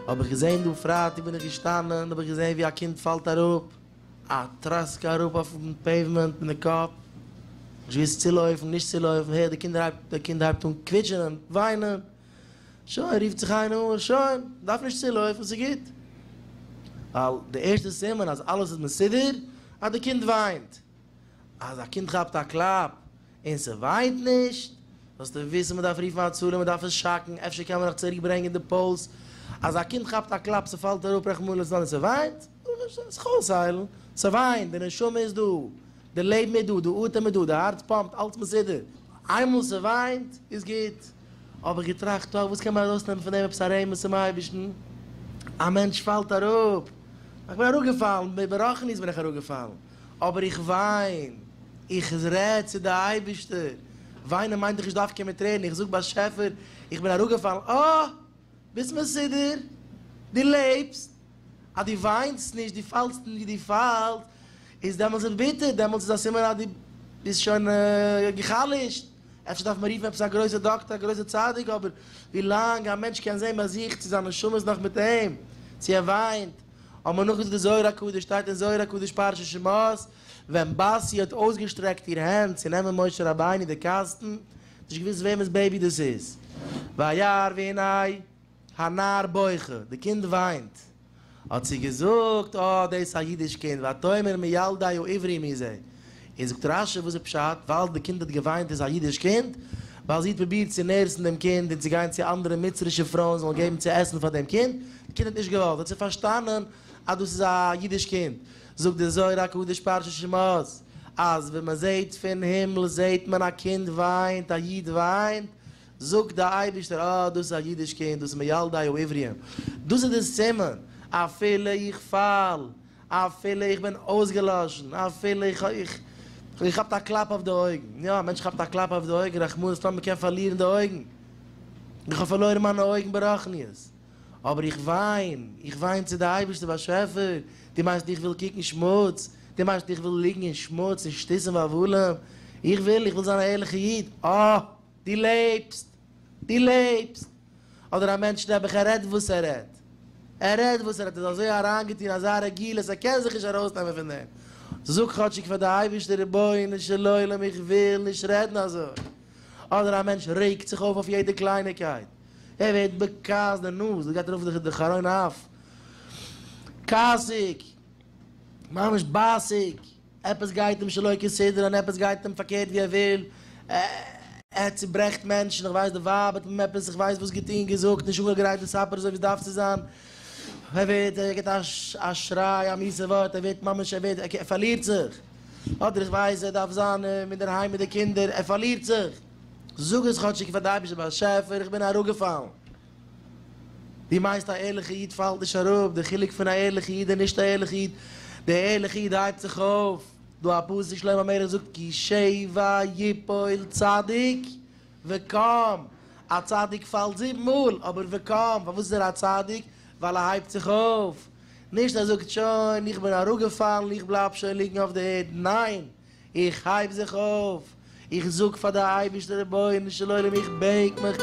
האב איך געזען דא פרייטאג בין איך געשטאנען האב איך געזען ווי א קינד פאלט אראפ א טראסקע אראפ אויפן פעיוומענט מיט די קאפ נישט געוויסט צו לויפן נישט צו לויפן הער די קינדער הייבט די קינד הייבט אן קוויטשען און וויינען. שוין, רופט זיך איינער אן, שוין, מ'דארף נישט צולויפן, ס'גוט. ווייל די ערשטע סימן אז אלעס איז מסודר, אז די קינד וויינט. אז א קינד כאפט א קלאפ און ס'וויינט נישט, זאלסטו וויסן מ'דארף רופן הצלה, מ'דארף עס שאקן, אפשר קען מען נאך צוריק ברענגען די פולס. אז א קינד כאפט א קלאפ, ס'פאלט אראפ רחמנא לצלן און ס'וויינט, זאלסטו זיך אויסהיילן. ס'וויינט, די נשמה איז דא, די לעבן איז דא, די אטעם איז דא, די הארץ פאמפט, אלעס מסודר. איינמאל ס'וויינט, איז גוט. האב איך געטראכט, טא וואס קען מען ארויסנעמען פון דעם עפעס א רמז צום אייבערשטן? א מענטש פאלט אראפ, איך בין אראפגעפאלן, ברחנית בין איך אראפגעפאלן, אבער איך וויין, איך רעד צו די אייבערשטער, וויינען מיינט דאך נישט דווקא מיט טרערן, איך זאג באשעפער, איך בין אראפגעפאלן, אה! ביסט מסודר, דו לעבסט, אז דו וויינסט נישט, דו פאלסט נישט ווי דו פאלסט, איז דעמאלטס איז ביטער, דעמאלטס איז א סימן אז דו ביסט שוין גע'חלש'ט. אפשר דארף מען רופן עפעס א גרויסע דאקטער, א גרויסע צדיק, אבער ווי לאנג א מענטש קען זען ביי זיך צו זיין נשמה איז נאך מיט אים, צו ער וויינט, האט מען נאכגעזאגט די זוהר הקדוש, שטייט אין זוהר הקדוש פרשת שמות, ווען בת י האט אויסגעשטרעקט איר הענט צו נעמען משה רבינו די קאסטן, נישט געוואוסט וועמענס בעיבי דאס איז, וירא והנה, הנער בוכה, די קינד וויינט. האט זי געזאגט, אה, דאס איז א אידיש קינד, ותאמר מי ילדי או עברי מי זה? און זאגט רשי, וואס איז פשט, ווייל די קינד האט געוויינט איז א אידיש קינד? ווייל זי האט פרובירט צו נערסן דעם קינד און צו גיין צו אנדערע מצרישע פרויען זאלן געבן צו עסן פאר דעם קינד, די קינד האט נישט געוואלט, האט זי פארשטאנען אז דאס איז א אידיש קינד. זאגט דער זוהר הקדוש פרשת שמות, אז ווען מען זעט פון הימל זעט מען א קינד וויינט, א איד וויינט, זאגט דער אייבערשטער, אה, דאס איז א אידיש קינד, דאס איז מילדי העבריים, דאס איז דער סימן, אפילו איך פאל, אפילו איך בין אויסגעלאשן, אפילו איך איך האב געכאפט א קלאפ אויף די אויגן, יא, א מענטש כאפט א קלאפ אויף די אויגן, רחמנא ליצלן, מען קען פארלירן די אויגן, איך האב פארלוירן מיינע אויגן ברחניות, אבער איך וויין, איך וויין צו די אייבערשטער באשעפער, דו מיינסט איך וויל קוקן שמוץ, דו מיינסט איך וויל ליגן אין שמוץ און שטותים ואבלים, איך וויל, איך וויל זיין א ערליכער איד, אה! דו לעבסט! דו לעבסט! אדער א מענטש נעבעך ער רעדט וואס ער רעדט. ער רעדט וואס ער רעדט איז אזוי אריינגעטון אזא רגילות ער קען זיך נישט ארויסנעמען פון דעם. זאג כאטשיג פאר די אייבערשטער רבונו של עולם איך וויל נישט רעדן אזוי. אדער א מענטש רעגט זיך אויף אויף יעדע קלייניקייט. ער ווערט בכעס די נאז דאס גייט ארויף די חרון אף. כעסיג. ממש בייסיג. עפעס גייט אים שלא כסדר און עפעס גייט אים פארקערט ווי ער וויל, ער צוברעכט מענטשן, איך ווייס די ווייב האט אים עפעס איך ווייס וואס געטון געזאגט נישט אנגעגרייט די סאפער אזוי ווי עס דארף צו זיין, ער ווערט ער גיבט א שריי א מיסע ווארט ער ווערט ממש ער ווערט ער פארלירט זיך, אדער איך ווייס ער דארף זיין אינדערהיים מיט די קינדער, ער פארלירט זיך, זאג עס כאטשיג פאר די אייבערשטער באשעפער איך בין אראפגעפאלן. דו מיינסט א ערליכע איד פאלט נישט אראפ? די חילוק פון א ערליכע איד און נישט א ערליכע איד, די ערליכע איד הייבט זיך אויף, דא א פסוק שלמה המלך זאגט כי שבע יפול צדיק וקם, א צדיק פאלט זיבן מאל אבער וקם, פארוואס איז ער א צדיק? ווייל ער הייבט זיך אויף, נישט ער זאגט שוין איך בין אראפגעפאלן איך בלייב שוין ליגן אויף די ערד, ניין איך הייב זיך אויף, איך זאג פאר די אייבערשטער רבונו של עולם איך בעט מיך,